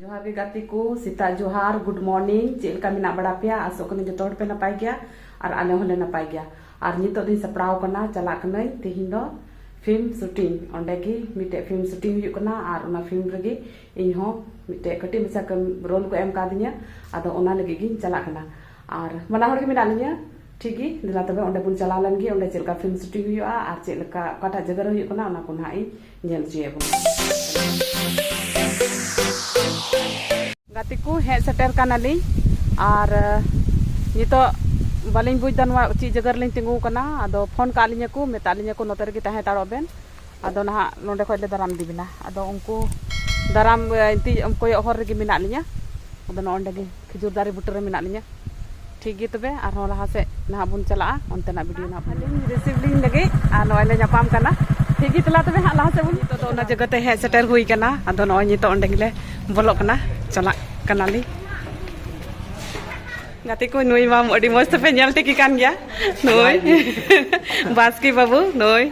ᱡᱚᱦᱟᱨ ᱜᱮ ᱜᱟᱛᱮ ᱠᱚ ᱥᱮᱛᱟᱜ ᱡᱚᱦᱟᱨ ᱜᱩᱰ ᱢᱚᱨᱱᱤᱝ ᱪᱮᱫ ᱞᱮᱠᱟ ᱢᱮᱱᱟᱜ ᱵᱟᱲᱟ ᱯᱮᱭᱟ ᱟᱥᱚᱜ ᱠᱟᱹᱱᱟᱹᱧ ᱡᱚᱛᱚ ᱦᱚᱲ ᱯᱮ ᱱᱟᱯᱟᱭ ᱜᱮᱭᱟ ᱟᱨ ᱟᱞᱮ ᱦᱚᱸᱞᱮ ᱱᱟᱯᱟᱭ ᱜᱮᱭᱟ ᱟᱨ ᱱᱤᱛᱚᱜ ᱫᱚᱧ ᱥᱟᱯᱲᱟᱣ ᱠᱟᱱᱟ ᱪᱟᱞᱟᱜ ᱠᱟᱹᱱᱟᱹᱧ ᱛᱮᱦᱮᱧ ᱫᱚ ᱯᱷᱤᱞᱢ ᱥᱩᱴᱤᱝ ᱚᱸᱰᱮ ᱜᱮ ᱢᱤᱫᱴᱮᱡ ᱯᱷᱤᱞᱢ ᱥᱩᱴᱤᱝ ᱦᱩᱭᱩᱜ ᱠᱟᱱᱟ ᱟᱨ ᱚᱱᱟ ᱯᱷᱤᱞᱢ ᱨᱮᱜᱮ ᱤᱧ ᱦᱚᱸ ᱢᱤᱫᱴᱮᱡ ᱠᱟᱹᱴᱤᱡ ᱢᱟᱪᱷᱟ ᱠᱟᱹᱢᱤ ᱨᱳᱞ ᱠᱚ ᱮᱢ ᱠᱟᱣᱫᱤᱧᱟ ᱟᱫᱚ ᱚᱱᱟ ᱞᱟᱹᱜᱤᱫ ᱜᱤᱧ ᱪᱟᱞᱟᱜ ᱠᱟᱱᱟ ᱟᱨ ᱵᱟᱱᱟ ᱦᱚᱲ ᱜᱮ ᱢᱮᱱᱟᱜ ᱞᱤᱧᱟ ᱴᱷᱤᱠ ᱜᱮ ᱫᱮᱞᱟ ᱛᱚᱵᱮ ᱚᱸᱰᱮ ᱵᱚᱱ ᱪᱟᱞᱟᱣ ᱞᱮᱱ ᱜᱮ ᱚᱸᱰᱮ ᱪᱮᱫ ᱞᱮᱠᱟ ᱯᱷᱤᱞᱢ ᱥᱩᱴᱤᱝ ᱦᱩᱭᱩᱜᱼᱟ ᱟᱨ ᱪᱮᱫ ᱞᱮᱠᱟ ᱚᱠᱟᱴᱟᱜ ᱡᱟᱭᱜᱟ ᱨᱮ ᱦᱩᱭᱩᱜ ᱠᱟᱱᱟ ᱚᱱᱟ ᱠᱚ ᱱᱟᱦᱟᱜ ᱤᱧ ᱧᱮᱞ ᱦᱚᱪᱚᱭᱮᱫ ᱵᱚᱱᱟ ᱜᱟᱛᱮ ᱠᱚ ᱦᱮᱡ ᱥᱮᱴᱮᱨ ᱠᱟᱱᱟᱞᱤᱧ ᱟᱨ ᱱᱤᱛᱚᱜ ᱵᱟᱹᱞᱤᱧ ᱵᱩᱡᱽ ᱮᱫᱟ ᱱᱚᱣᱟ ᱪᱮᱫ ᱡᱟᱭᱜᱟ ᱨᱮᱞᱤᱧ ᱛᱤᱸᱜᱩ ᱟᱠᱟᱱᱟ ᱟᱫᱚ ᱯᱷᱳᱱ ᱠᱟᱜ ᱞᱤᱧᱟᱹ ᱠᱚ ᱢᱮᱛᱟᱜ ᱞᱤᱧᱟᱹ ᱠᱚ ᱱᱚᱛᱮ ᱨᱮᱜᱮ ᱛᱟᱦᱮᱸ ᱦᱟᱛᱟᱲᱚᱜ ᱵᱮᱱ ᱟᱫᱚ ᱱᱟᱦᱟᱜ ᱱᱚᱰᱮ ᱠᱷᱚᱡ ᱞᱮ ᱫᱟᱨᱟᱢ ᱤᱫᱤ ᱵᱮᱱᱟ ᱟᱫᱚ ᱩᱱᱠᱩ ᱫᱟᱨᱟᱢ ᱠᱚᱭᱚᱜ ᱦᱚᱨ ᱨᱮᱜᱮ ᱢᱮᱱᱟᱜ ᱞᱤᱧᱟᱹ ᱟᱫᱚ ᱱᱚᱜᱼᱚᱸᱰᱮ ᱜᱮ ᱠᱷᱤᱡᱩᱨ ᱫᱟᱨᱮ ᱵᱩᱴᱟᱹ ᱨᱮ ᱢᱮᱱᱟᱜ ᱞᱤᱧᱟ ᱴᱷᱤᱠ ᱜᱮ ᱛᱚᱵᱮ ᱟᱨᱦᱚᱸ ᱞᱟᱦᱟ ᱥᱮᱫ ᱱᱟᱦᱟᱜ ᱵᱚᱱ ᱪᱟᱞᱟᱜᱼᱟ ᱚᱱᱛᱮᱱᱟᱜ ᱵᱷᱤᱰᱤᱭᱳ ᱱᱟᱦᱟᱜ ᱟᱹᱞᱤᱧ ᱨᱤᱥᱤᱵᱷ ᱞᱤᱧ ᱞᱟᱹᱜᱤᱫ ᱟᱨ ᱱᱚᱜᱼᱚᱭ ᱞᱮ ᱧᱟᱯᱟᱢ ᱠᱟᱱᱟ ᱴᱷᱤᱠ ᱜᱮ ᱛᱟᱞᱟ ᱛᱚᱵᱮ ᱦᱟᱸᱜ ᱞᱟᱦᱟ ᱥᱮᱫ ᱵᱚᱱ ᱱᱤᱛᱚᱜ ᱫᱚ ᱚᱱᱟ ᱡᱟᱭᱜᱟ ᱛᱮ ᱦᱮᱡ ᱥᱮᱴᱮᱨ ᱦᱩᱭ ᱠᱟᱱᱟ ᱟᱫᱚ ᱱᱚᱜᱼᱚᱭ ᱱᱤᱛᱚᱜ ᱚᱸᱰᱮ ᱜᱮᱞᱮ ᱵᱚᱞᱚᱜ ᱠᱟᱱᱟ ᱪᱟᱞᱟᱜ ᱠᱟᱱᱟᱞᱤᱧ ᱜᱟᱛᱮ ᱠᱚ ᱱᱩᱭ ᱢᱟ ᱟᱹᱰᱤ ᱢᱚᱡᱽ ᱛᱮᱯᱮ ᱧᱮᱞ ᱴᱷᱤᱠ ᱠᱟᱱ ᱜᱮᱭᱟ ᱱᱩᱭ ᱵᱟᱥᱠᱤ ᱵᱟᱹᱵᱩ ᱱᱩᱭ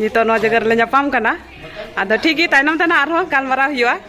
ᱱᱤᱛᱚᱜ ᱱᱚᱣᱟ ᱡᱟᱭᱜᱟ ᱨᱮᱞᱮ ᱧᱟᱯᱟᱢ ᱠᱟᱱᱟ ᱟᱫᱚ ᱴᱷᱤᱠ ᱜᱮ ᱛᱟᱭᱱᱚᱢ ᱛᱮ ᱱᱟᱦᱟᱜ ᱟᱨᱦᱚᱸ ᱜᱟᱞᱢᱟᱨᱟᱣ ᱦᱩᱭᱩᱜᱼᱟ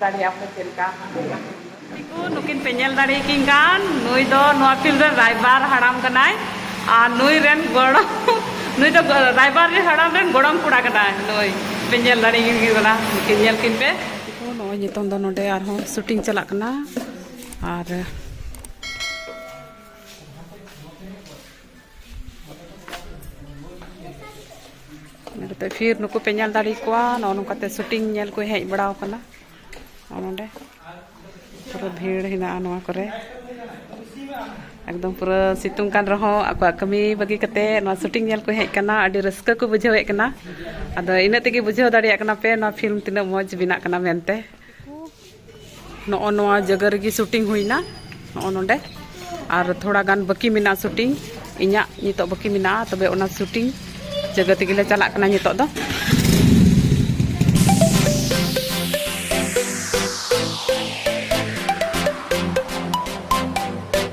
ᱫᱟᱲᱮᱭᱟᱜᱼᱟ ᱯᱮ ᱪᱮᱫ ᱞᱮᱠᱟ ᱠᱚ ᱱᱩᱠᱤᱱ ᱯᱮ ᱧᱮᱞ ᱫᱟᱲᱮ ᱠᱤᱱ ᱠᱟᱱ ᱱᱩᱭ ᱫᱚ ᱱᱚᱣᱟ ᱯᱷᱤᱞᱢ ᱨᱮ ᱨᱟᱭᱵᱟᱨ ᱦᱟᱲᱟᱢ ᱠᱟᱱᱟᱭ ᱟᱨ ᱱᱩᱭ ᱨᱮᱱ ᱜᱚᱲᱚᱢ ᱱᱩᱭ ᱫᱚ ᱨᱟᱭᱵᱟᱨ ᱨᱮ ᱦᱟᱲᱟᱢ ᱨᱮᱱ ᱜᱚᱲᱚᱢ ᱠᱚᱲᱟ ᱠᱟᱱᱟᱭ ᱱᱩᱭ ᱯᱮ ᱧᱮᱞ ᱫᱟᱲᱮ ᱠᱤᱱ ᱠᱟᱱᱟ ᱱᱩᱠᱤᱱ ᱧᱮᱞ ᱠᱤᱱ ᱯᱮ ᱠᱚ ᱱᱚᱜᱼᱚᱭ ᱱᱤᱛᱚᱝ ᱫᱚ ᱱᱚᱰᱮ ᱟᱨᱦᱚᱸ ᱥᱩᱴᱤᱝ ᱪᱟᱞᱟᱜ ᱠᱟᱱᱟ ᱟᱨ ᱱᱚᱛᱮ ᱯᱷᱤᱨ ᱱᱩᱠᱩ ᱯᱮ ᱧᱮᱞ ᱫᱟᱲᱮ ᱠᱚᱣᱟ ᱱᱚᱜᱼᱚ ᱱᱚᱝᱠᱟᱛᱮ ᱥᱩᱴᱤᱝ ᱧᱮᱞ ᱠᱚ ᱦᱮᱡ ᱵᱟᱲᱟᱣ ᱠᱟᱱᱟ ᱱᱚᱰᱮ ᱯᱩᱨᱟᱹ ᱵᱷᱤᱲ ᱦᱮᱱᱟᱜᱼᱟ ᱱᱚᱣᱟ ᱠᱚᱨᱮ ᱮᱠᱫᱚᱢ ᱯᱩᱨᱟᱹ ᱥᱤᱛᱩᱝ ᱠᱟᱱ ᱨᱮᱦᱚᱸ ᱟᱠᱚᱣᱟᱜ ᱠᱟᱹᱢᱤ ᱵᱟᱹᱜᱤ ᱠᱟᱛᱮ ᱱᱚᱣᱟ ᱥᱩᱴᱤᱝ ᱧᱮᱞ ᱠᱚ ᱦᱮᱡ ᱠᱟᱱᱟ ᱟᱹᱰᱤ ᱨᱟᱹᱥᱠᱟᱹ ᱠᱚ ᱵᱩᱡᱷᱟᱹᱣᱮᱫ ᱠᱟᱱᱟ ᱟᱫᱚ ᱤᱱᱟᱹᱜ ᱛᱮᱜᱮ ᱵᱩᱡᱷᱟᱹᱣ ᱫᱟᱲᱮᱭᱟᱜ ᱠᱟᱱᱟ ᱯᱮ ᱱᱚᱣᱟ ᱯᱷᱤᱞᱢ ᱛᱤᱱᱟᱹᱜ ᱢᱚᱡᱽ ᱵᱮᱱᱟᱜ ᱠᱟᱱᱟ ᱢᱮᱱᱛᱮ ᱱᱚᱜᱼᱚ ᱱᱚᱣᱟ ᱡᱟᱭᱜᱟ ᱨᱮᱜᱮ ᱥᱩᱴᱤᱝ ᱦᱩᱭᱱᱟ ᱱᱚᱜᱼᱚ ᱱᱚᱰᱮ ᱟᱨ ᱛᱷᱚᱲᱟ ᱜᱟᱱ ᱵᱟᱹᱠᱤ ᱢᱮᱱᱟᱜᱼᱟ ᱥᱩᱴᱤᱝ ᱤᱧᱟᱹᱜ ᱱᱤᱛᱚᱜ ᱵᱟᱹᱠᱤ ᱢᱮᱱᱟᱜᱼᱟ ᱛᱚᱵᱮ ᱚᱱᱟ ᱥᱩᱴᱤᱝ ᱡᱟᱭᱜᱟ ᱛᱮᱜᱮ ᱞᱮ ᱪᱟᱞᱟᱜ ᱠᱟᱱᱟ ᱱᱤᱛᱚᱜ ᱫᱚ